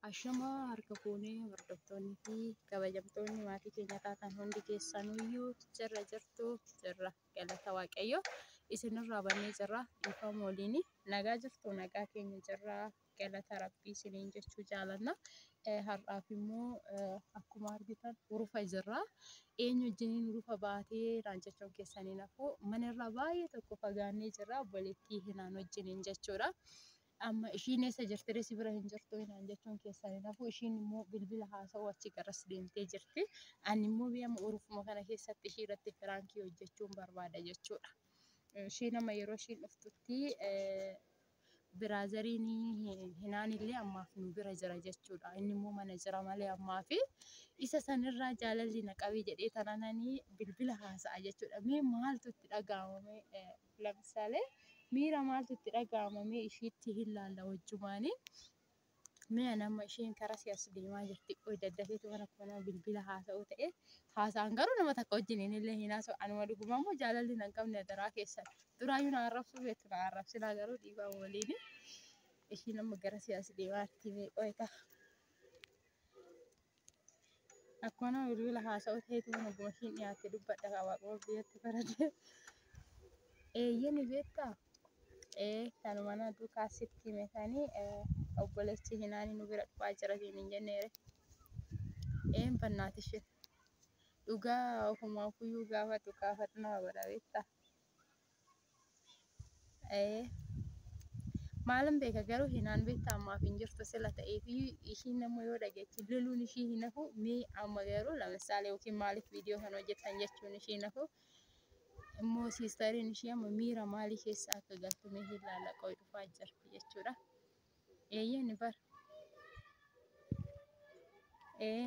Ashamaa harka fuune hordoftoonni fi kabajamtoonni maatii keenya taatan hundi keessanuyyuu jirra jirtu jirra galata waaqayyo isinirraa bannee jirra dhiifama waliin nagaa jirtu nagaa keenya jirra galata rabbii isiniin jechuu jaalanna Eh, har'aaf immoo eh, akkuma argitan urufa jirra eenyu wajjiniin urufa baatee naan jechuun keessaniin hafuu manarraa baay'ee tokko fagaannee jirra obboleettii hinaan wajjiniin jechuudha. Amma ishiin eessa jirti ree si bira hin jirtu inaan jechuun keessan hin hafu ishiin immoo bilbila haasa'u achi garas deemtee jirti ani immoo biyya amma urufuma kana keessatti ishii irratti firaankii hojjechuun barbaada jechuudha. Ishiin amma yeroo ishiin dhuftutti biraazariin hinaan illee ammaaf nu bira jira jechuudha. Inni immoo mana jira malee ammaa fi isa sanirraa jaalalli na qabee jedhee tanananii bilbila haasa'a jechuudha. Mee maaltu itti dhaga'amame Lamsale miira maaltu itti dhaga'ama mee ishiitti hin laalla wajjumaani. Mee an amma isheen karaa si as deemaa jirti qoy daddateetu mana koo nama bilbila haasa'uu ta'e haasa'an garuu nama takka wajjin hin illee hin haasa'u anuma dhuguma immoo jaalalli nan qabne adaraa keessan duraayyuu na arrabsuu beektu na arrabsinaa garuu dhiibaa waliin ishiin amma gara si as deemaatti mee qoy ta'a. Akkuma bilbila haasa'u ta'etu mana gumashiin dhiyaatte dubbadha kaa waaquma biyyatti faradee. Eeyyeni beektaa? Ee kanu mana duukaa sitti hime sanii obboleessi hinaani nu bira dhufaa jira siin hin jenneere. Een bannaati ishee. Dhugaa ofumaa kuyyuu gaafatu kaafatnaa godha beektaa? Ee. Maalan beeka garuu hinaan beektaa ammaaf hin jirtu sila ta'eef ishiin nama yoo dhageechi loluun ishii hin hafu mee amma garuu lamisaalee yookiin maaliif viidiyoo kan hojjetan jechuun ishii hin hafu. Immoo siistariin ishii amma miira maalii keessa akka galtu mee hin laala qoy dhufaa jirti jechuudha. Eeyyee ni bara. Ee.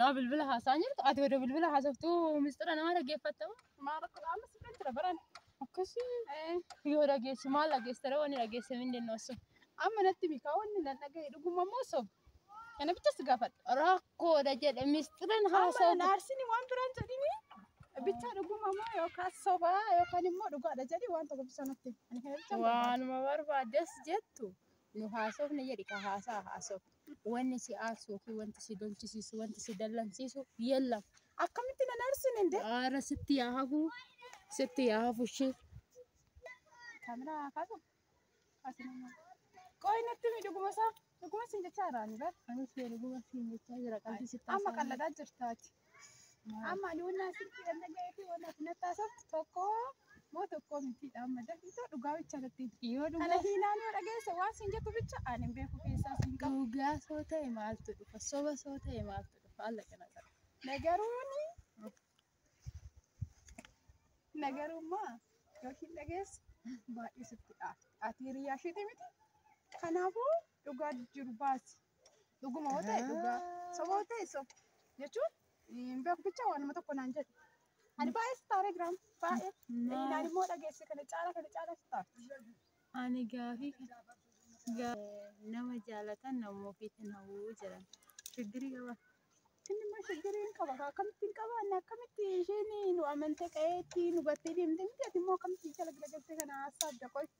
Nama bilbila haasa'aa jirtu ati wada bilbila haasoftuu mistira nama dhaggeeffatta moo? Maa rakkoo amma si bira jira baran. Akkasii Eh, yoo dhageessu maal dhageessitara wanni dhageesse hin dandeenye osoo. Amma natti mikaa wanni nan dhagahe dhuguma moo soba? Kana bicha si gaafadha. Rakkoodha jedhe mistiran Amma nan haasa'u. aarsinii waan biraan jedhini bichaa dhuguma moo yookaan sobaa yookaan immoo dhugaadha jedhi waan tokko bisaa natti. Ani kana bichaa hin barbaadu. Waanuma barbaaddes jettu nu haasofne jedhi ka haasaa haasof wanni si aarsu yookiin wanti si dolchisiisu wanti si dallansiisu yellam akkamitti nan aarsin inde aara sitti yaa hafu sitti yaa hafu ishee kamera kaasu asuma qoy natti mi dhuguma isaa dhuguma sin jechaa irraa ni bar anis yoo dhuguma siin jechaa jira qalbii sitti amma haasa'aa qalladaa jirtaati Amma ani wannaa sirrii kan dhaga'ee fi wannaa fi nattaasoftu tokko moo tokko miti amma dafiitoo dhugaa bicha irratti Yoo dhugaa- kana hiinaan yoo dhageesse waan siin jettu bicha ani hin beeku keessaa siin qabu. Dhugaa soo ta'e maaltu dhufa? Soba soo ta'e maaltu dhufa? Alla kana ta'a. Nagaruuni nagarummaa yookiin dhageessu baay'ee sitti dhaafti. Ati hiriyaa isheeti miti. Kanaafuu dhugaa jiru baasi. Dhuguma hoo ta'e dhugaa. Soba hoo ta'e soba. Jechuun hin beeku bicha waanuma tokko naan jedhu. Ani baay'ee si taaree jiraam. Baay'ee. Maal? Naan immoo dhageesse kana caala kana caala si taara. Ani gaafii kana gaa- nama jaalatan nama ofiitiin hawwuu jedhan. Shiggirii qaba. Inni immoo shiggirii hin qaba. Akkamitti hin qaba? Inni akkamitti isheen nu amantee qa'eetti nu gattee deemte miti? Ati immoo akkamitti jala galagaltee kana haasa'aa adda qoy.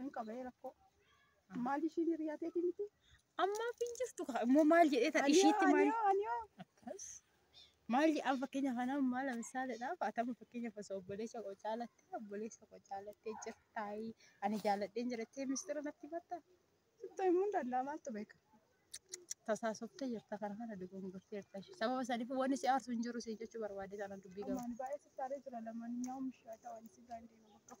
Hin qabee rakkoo. Maal ishiin hiriyaa teetii miti? Ammaaf hin jirtu kaa immoo maal jedhee tan ishiitti maal Aniyoo aniyoo. akkas maal jedhan fakkeenya kanaan maal misaaladhaaf atama fakkeenya osoo obboleessa koo caalattee obboleessa koo caalattee jirtaayi ani jaaladheen jirattee mistira natti batta Sitti himuu hin danda'a maaltu beeka? tasaasoftee jirta kana kana dogongortee jirta ishee sababa saniif wanni si aarsu hin jiru si jechuu barbaadee sana dubbii gama. Maal baay'ee sitti aaree jira lamaan nyaa'u mishaa ta'an si gaandee bakka.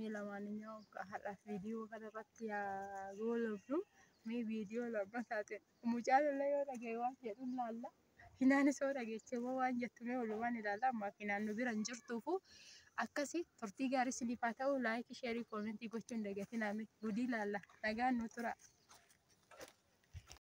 Mee lamaaninyoo har'aaf viidiyoo kana irratti yaa goolabnu. Mee viidiyoo lammataatiin mucaa lollee yoo dhaga'e waan jedhu ilaalla. Hinaanis yoo dhageeche immoo waan jettu mee walumaan ilaalla. Amma hinaan nu bira hin jirtuufu akkasi turtii gaarii isiniif haa ta'u laayikii sheerii koomentii gochuun dagatinaa mee gudii ilaalla. Nagaan nu tura.